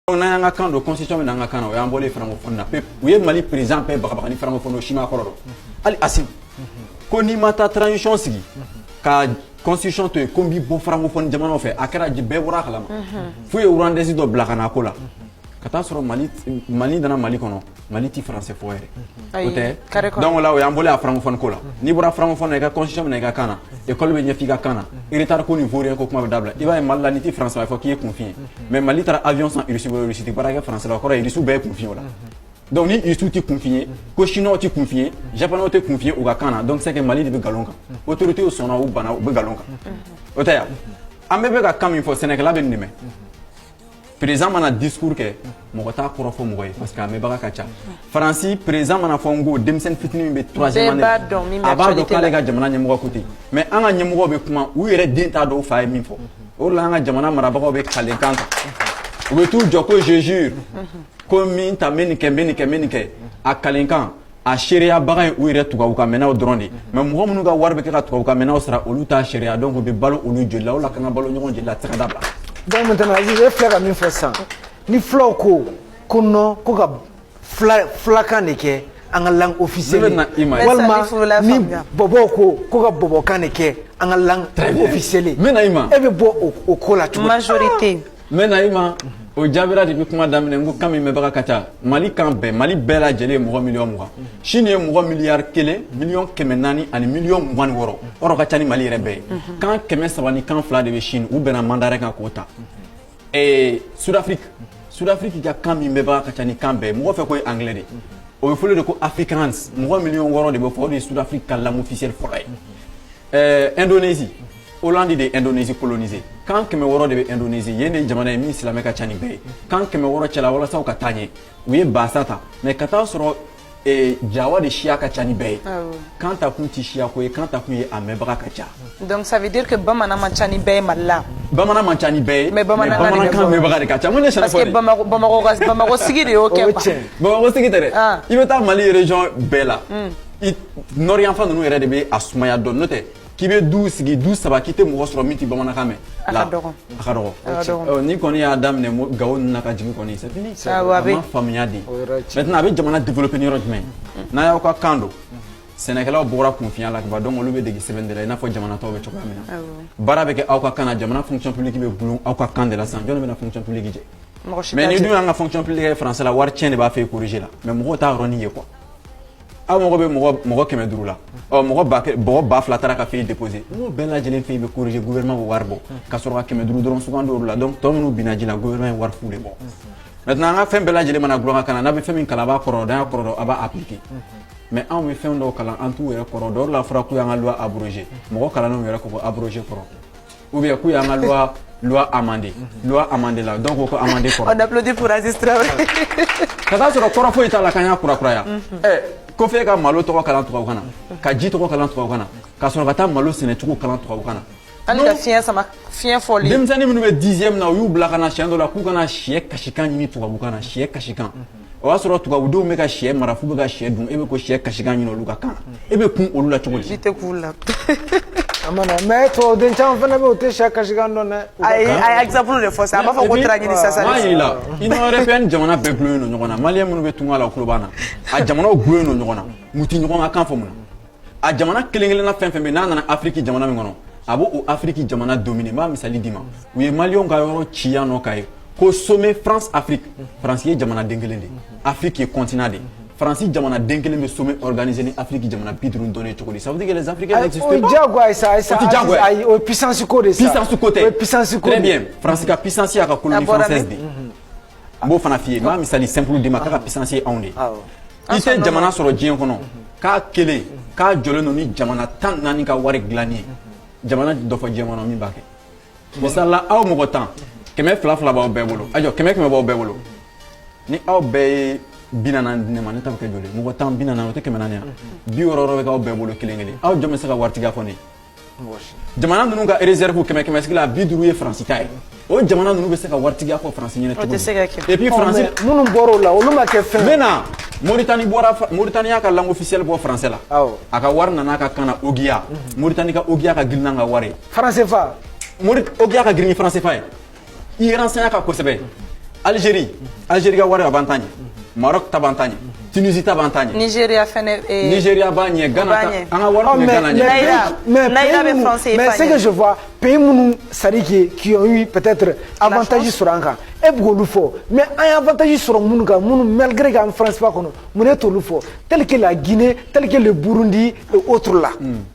Donc n'an y'an ka kan don constitution bɛ na an ka kan na o y'an bɔlen francophonie na pewu u ye Mali président bɛɛ bagabaga ni francophonie o si m'a kɔrɔ dɔn hali Assimi ko n'i ma taa transition sigi ka constitution to yen ko n b'i bɔ francophonie jamanaw fɛ a kɛra bɛɛ bɔra a kalama f'u ye rwandaise dɔ bila ka na a ko la ka taa sɔrɔ Mali Mali nana Mali kɔnɔ Mali tɛ faransɛ fɔ yɛrɛ o tɛ dɔn la o y'an bolo' fana ko la n'i bɔra fana fɔ i kasi min i ka kan e kalo bɛ ɲɛfin i ka kan i taara ko nin fɔ ko kuma bɛ da i b'a ye mali la ni tɛ faransɛ fɔ k'i kunfin mɛ mali taara awyɔn sɔnsi bara kɛ faransɛ kɔrɔ ye dususu bɛɛ kunfin o la dɔnku ni i su tɛ kunfin ye ko siniɔn tɛ kunfinye japw tɛ kunfinye u ka kan na dɔnkisɛ kɛ mali de bɛ nkalon kan o torote sɔnna u bana u bɛ nkalon kan o tɛ yan an bɛɛ bɛka ka kan min fɔ sɛnɛkɛla bɛ nin président mana discours kɛ mɔgɔ t'a kɔrɔ fɔ mɔgɔ ye parce que a mɛnbaga ka ca faransi président mana fɔ n ko denmisɛnnin fitini min bɛ troisième année a b'a dɔn k'ale ka jamana ɲɛmɔgɔ ko ten mais an ka ɲɛmɔgɔ bɛ kuma u yɛrɛ den t'a dɔn u fa ye min fɔ o la an ka jamana marabagaw bɛ kalikan kan u bɛ t'u jɔ ko je jure ko min ta bɛ nin kɛ bɛ nin kɛ bɛ nin kɛ a kalikan a seereyabaga ye u yɛrɛ tubabukanmɛnnaw dɔrɔn de ye mais mɔgɔ minnu ka wari bɛ kɛ ka tubabukanmɛnnaw sara olu t'a seereya donc u bɛ balo olu joli la o la ka kan ka balo ɲɔgɔn joli la a tɛ se ka dabila donc maintenant Aziz e filɛ ka min fɔ sisan ni fulaw ko ko non ko ka fulakan de kɛ an ka langue officielle walima ni bɔbɔw ko ko ka bɔbɔkan de kɛ an ka langue officielle e bɛ bɔ o ko la cogo di majorité n bɛ na i ma o jaabira depuis kuma daminɛ n ko kan min mɛnbaga ka ca mali kan bɛɛ mali bɛɛ lajɛlen ye mɔgɔ miliyɔn mugan Chine ye mɔgɔ miliyari kelen miliyɔn kɛmɛ naani ani miliyɔn mugan ni wɔɔrɔ yɔrɔ ka ca ni mali yɛrɛ bɛɛ ye kan kɛmɛ saba ni kan fila de bɛ Chine u bɛnna mandarin kan k'o ta Sud-Afrique Sud-Afrique ka kan min mɛnbaga ka ca ni kan bɛɛ mɔgɔ fɛ k'o ye angilɛ de ye o bɛ fɔli de ko afrikaans mɔgɔ miliyɔn wɔɔrɔ de b'o fɔ o de ye Sud-Afrique ka langue officielle fɔlɔ ye ɛɛ Indonésie Hollande de ye Indonésie coloniser kan kɛmɛ wɔɔrɔ de bɛ Indonésie yen de ye jamana ye min silamɛ ka ca ni bɛɛ ye kan kɛmɛ wɔɔrɔ cɛla walasa u ka taa ɲɛ u ye bahasa ta mais ka taa sɔrɔ eh, jawa de siya ka ca ni bɛɛ ye kan ta kun tɛ siya ko ye kan ta kun ye a mɛnbaga ka ca donc ça veut dire que bamanan man ca ni bɛɛ ye mali la bamanan man ca ni bɛɛ ye Mais bamanankan de bɛ bamanankan bɔ. mɛnbaga de ka ca mun de sɛnɛ parce que bamako bamako ka bamako sigi de y'o o ye kɛ quoi tiɲɛ bamakɔ sigi tɛ dɛ Ah. i bɛ taa mali région bɛɛ la i nord yanfan ninnu yɛrɛ de bɛ a sumaya dɔɔni n'o tɛ k'i bɛ du sigi du saba k'i tɛ mɔgɔ sɔrɔ min tɛ bamanankan mɛn a ka dɔgɔn a ka dɔgɔn a ka dɔgɔn ɔ n'i kɔni y'a daminɛ mo Gao ninnu na ka jigin kɔni c'est fini awɔ a bɛ a ma faamuya de o yɔrɔ ye tiɲɛ maintenant a bɛ jamana développer ni yɔrɔ jumɛn n'a y'aw ka kan don sɛnɛkɛlaw bɔra kunfinya la kaban donc olu bɛ dege sɛbɛn de la i n'a fɔ jamana tɔw bɛ cogoya min na awɔ baara bɛ kɛ aw ka kan na jamana fonction publique bɛ boli aw ka kan de la sisan jɔni bɛna fonction publique jɛ mɔgɔ si mais t'a ni jɛ dun y'an ka fonction publique kɛ français la wari tiɲɛ de b'a fɛ corriger la mais mɔgɔw t'a yɔrɔnin ye quoi aw mago bɛ mɔgɔ mɔgɔ kɛmɛ duuru la ɔ mɔgɔ ba mɔgɔ ba fila taara ka feuille déposer n'o bɛɛ lajɛlen feuille bɛ corriger gouvernement bɛ wari bɔ ka sɔrɔ ka kɛmɛ duuru dɔrɔn sugandi olu la donc tɔ minnu binna ji la gouvernement ye wari fu de bɔ maintenant an ka fɛn bɛɛ lajɛlen mana dilan an ka kan na n'a bɛ fɛn min kalan a b'a kɔrɔ dɔn a kɔrɔ dɔn a b'a appliquer mais anw bɛ fɛn dɔw kalan an t'u yɛrɛ kɔrɔ dɔn n'a fɔra k'u y'an ka loi abroger mɔgɔ kalannenw yɛrɛ ko ko abroger kɔrɔ ou bien k'u y'an ka loi loi amender mhm. loi amender là donc o ko amender kɔrɔ. on applaudit pour Aziz Traoré. ka taa sɔrɔ kɔrɔ foyi t'a la k'an y'a kurakuraya. ɛ ko f'e ka malo tɔgɔ kalan tubabukan na mhm. ka ji tɔgɔ kalan tubabukan na ka sɔrɔ ka taa malo sɛnɛcogo kalan tubabukan na. hali ka fiɲɛ sama fiɲɛ fɔli. denmisɛnnin minnu bɛ dixième na u y'u bila ka na siɲɛ dɔ la k'u ka na shɛ kasikan ɲini tubabukan na shɛ kasikan. Mhm. o y'a sɔrɔ tubabudenw bɛ ka shɛ mara f'u bɛ ka shɛ dun e bɛ ko shɛ kasikan ɲini olu ka kan na e bɛ kun olu la cogo di? tɛ kun u la a ma na mais tubabuden caman fana bɛ yen u tɛ shɛ kasikan dɔn dɛ ayi a ye exemple de fɔ sa a b'a fɔ ko tira ɲini sasa n'a y'i la Union européenne jamana bɛɛ gulonnen don ɲɔgɔn na maliyɛn minnu bɛ tunga la o tulo b'an na a jamanaw gulonnen don ɲɔgɔn na u tɛ ɲɔgɔn ka kan fɔ mun na a jamana kelen kelenna fɛn fɛn bɛ n'a nana afiriki jamana min kɔnɔ a b'o o afiriki jamana dominer n b'a misali d'i ma u ye maliyɛnw ka yɔrɔ ci yan nɔ k'a ye ko sommet france afrique faransi ye jamana den kelen de afiriki ye continent de faransi jamana den kelen bɛ sommet organisé ni afiriki jamana bi duuru dɔnnen cogo di ça veut dire que les africains n'existent pas o diyagoya sa sa ayi o ye puissance ko de sa puissance ko tɛ o ye puissance ko de très bien faransi ka puissance y'a ka colonie française de n b'o fana f'i ye n b'a misali simple d'i ma k'a ka puissance ye anw de ye I tɛ jamana sɔrɔ diɲɛ kɔnɔ k'a kelen k'a jɔlen don ni jamana tan naani ka wari dilanni ye jamana dɔ fɔ diɲɛ kɔnɔ min b'a kɛ misali la aw mɔgɔ tan kɛmɛ fila fila b'aw bɛɛ bolo a jɔ kɛmɛ kɛmɛ b'aw bɛɛ bolo ni aw bɛɛ ye bi naani di ne ma ne ta kɛ joli mɔgɔ tan bi naani o tɛ kɛmɛ naani ye bi wɔɔrɔ bɛ aw bɛɛ bolo kelen kelen aw jɔn bɛ se ka waritigiya fɔ ne jamana ninnu ka rezɛrifu kɛmɛ kɛmɛ sigi la bi duuru ye faransi ta ye o jamana ninnu bɛ se ka waritigiya fɔ faransi ɲɛna cogo di et puis faransi minnu bɔra o la olu ma kɛ fɛn n bɛ na Mauritanie bɔra Mauritanie y'a ka langue officielle bɔ français la awɔ a ka wari nana a ka kan na ogiya Mauritanie ka ogiya ka girin n'an ka wari ye franc CFA Maurit ogiya ka girin ni franc CFA ye i ye franc CFA ka kosɛbɛ algérie algérie ka wari a b'an ta ɲɛ maroc ta b'an ta ɲɛ Tunisie ta b'an ta ɲɛ Nigeria fɛnɛ eh, Nigeria b'a ɲɛ Ghana ta an ka wari tun bɛ Ghana ɲɛ mais naira bɛ français mais ce que je vois pays minnu sari qui qui ont eu peut-être avantage sɔrɔ an kan e bɛ k'olu fɔ mais an ye avantage sɔrɔ minnu kan minnu malgré k'an franc CFA kɔnɔ mun na e t'olu fɔ tel que la Guinée tel que le Burundi et autres là hmm.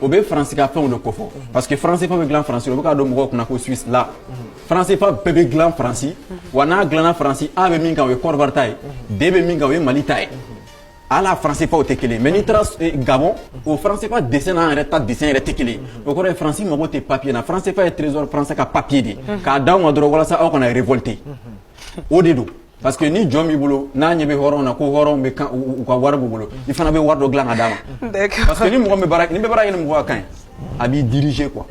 o bɛ faransi ka fɛnw de kofɔ parce que franc CFA bɛ dilan faransi o bɛ k'a don mɔgɔw kunna ko suisse la franc CFA bɛɛ bɛ dilan faransi wa n'a dilanna faransi a bɛ min kan o ye kɔdiwari ta ye d bɛ min kan o ye mali ta ye hali franc CFAw tɛ kelen mais n'i taara eh, gabɔn o franc CFA dessin n'an yɛrɛ ta dessin yɛrɛ tɛ kelen o kɔrɔ ye faransi mago tɛ papiye na franc CFA ye trésor français ka papiye de k'a d'aw ma dɔrɔn walasa aw kana révolter o de don parce que ni jɔn b'i bolo n'a ɲɛ bɛ hɔrɔn na ko hɔrɔn bɛ kan u ka wari b'u bolo i fana bɛ wari dɔ dilan ka d'a ma parce que ni mɔgɔ bɛ baara n'i bɛ baara kɛ ni mɔgɔ ka kan ye a b'i diriger quoi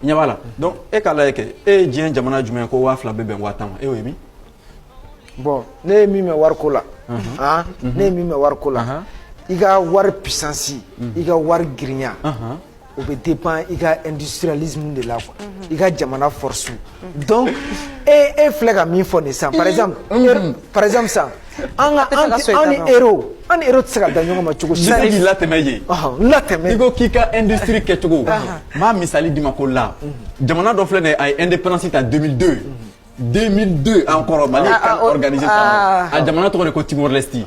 ɲɛ b'a la donc e k'a lajɛ kɛ e ye diɲɛ jamana jumɛn ko waa fila bɛ bɛn waa tan ma e y'o ye min bon ne ye min mɛn wariko la han ne ye min mɛn wariko la i ka wari puissance i ka wari girinya o bɛ dépend i ka industrialisme de la quoi i ka jamana force donc e e filɛ ka min fɔ nin sisan par exemple par exemple sisan an ka an an ni euro an ni euro tɛ se ka da ɲɔgɔn ma cogo si la k'i latɛmɛ yen latɛmɛ i ko k'i ka industrie kɛcogo n bɛ misali d'i ma ko la jamana dɔ filɛ nin ye a ye indépendance ta 2002 2002 an kɔrɔ mali CAN organiser a jamana tɔgɔ de ko timor leste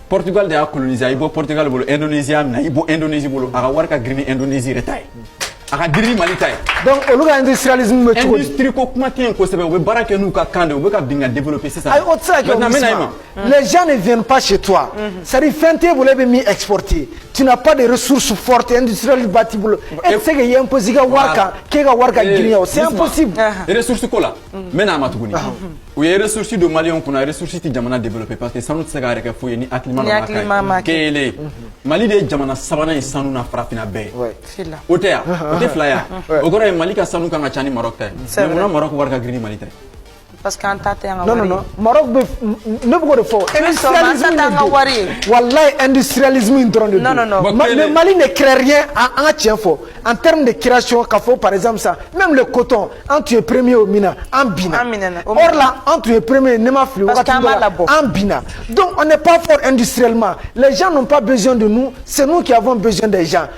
portugal de y'a coloniser a y'i bɔ portugal bolo indonésie y'a minɛ i bɔ indonésie bolo a ka wari ka girin ni indonésie yɛrɛ ta ye a ka girin ni mali ta ye donc olu ka industrialisme bɛ cogo di industrie ko kuma tɛ yen kosɛbɛ u bɛ baara kɛ n'u ka kan de u bɛ ka bin ka développer sisan ayi o tɛ se ka kɛ o Mm. Les gens ne viennent pas chez toi. Mm-hmm. C'est-à-dire, fɛn t'e bolo e bɛ min exporter. Tu n'as pas de ressources fortes industrielles ba t'i bolo. E tɛ se ka ye imposer i ka wari kan k'e ka wari ka eh, girinya o. C'est impossible. Uh-huh. Ressources ko la. Mm. N bɛ n'a ma tuguni. U ye ressources don Maliyɛnw kun na ressources tɛ jamana développer parce que sanu tɛ se k'a yɛrɛ kɛ foyi ye ni hakilima dɔ m'a k'a ye. Kelen. Mm-hmm. Mali de ye jamana sabanan ye sanu na farafinna bɛɛ. O tɛ yan. O tɛ fila yan. O kɔrɔ ye Mali ka sanu kan ka ca ni Maroc ta ye. Mais munna Maroc wari ka girin ni Mali ta ye? parce que an ta tɛ an ka wari ye. non non non Maroc bɛ ne bɛ k'o de fɔ. industrialisme in de don walayi industrialisme in dɔrɔn de don. non non non le Mali ne crée rien an ka tiɲɛ fɔ en terme de création k'a fɔ par exemple sa même le coton an tun ye premier o min na an binna. or là an tun ye premier ne ma fili wagati dɔ la an binna donc on n'est pas fort industriellement les gens n'ont pas besoin de nous c'est nous qui avons besoin des gens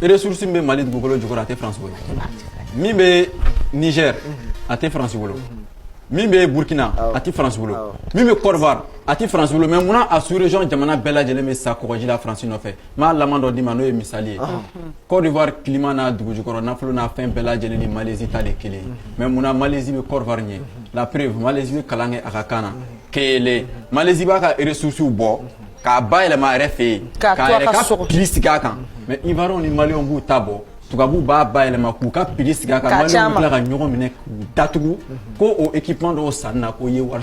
ressource min bɛ Mali dugukolo jukɔrɔ a tɛ France bolo, min bɛ Niger a tɛ France bolo, min bɛ Burkina a tɛ France bolo, min bɛ Cote d'Ivoire a tɛ France bolo mais munna a sous région jamana bɛɛ lajɛlen bɛ sa kɔgɔji la France nɔfɛ n b'a laban dɔ d'i ma n'o ye misali ye Cote d'Ivoire climat n'a dugujukɔrɔ nafolo n'a fɛn bɛɛ lajɛlen ni Malaisie ta de ye kelen ye mais munna Malaisie bɛ Cote d'Ivoire ɲɛ la preuve Malaisie bɛ kalan kɛ a ka kan na kelen Malaisie b'a ka ressources bɔ K'a ba yɛlɛma yɛrɛ fɛ yen ka sigi a kan mɛ i ni mali b'u ta bɔ tubabubu b'a ba yɛlɛma k'u ka sigi kan ka ɲɔgɔn minɛ datugu ko o ekip dɔw san na k'o ye wari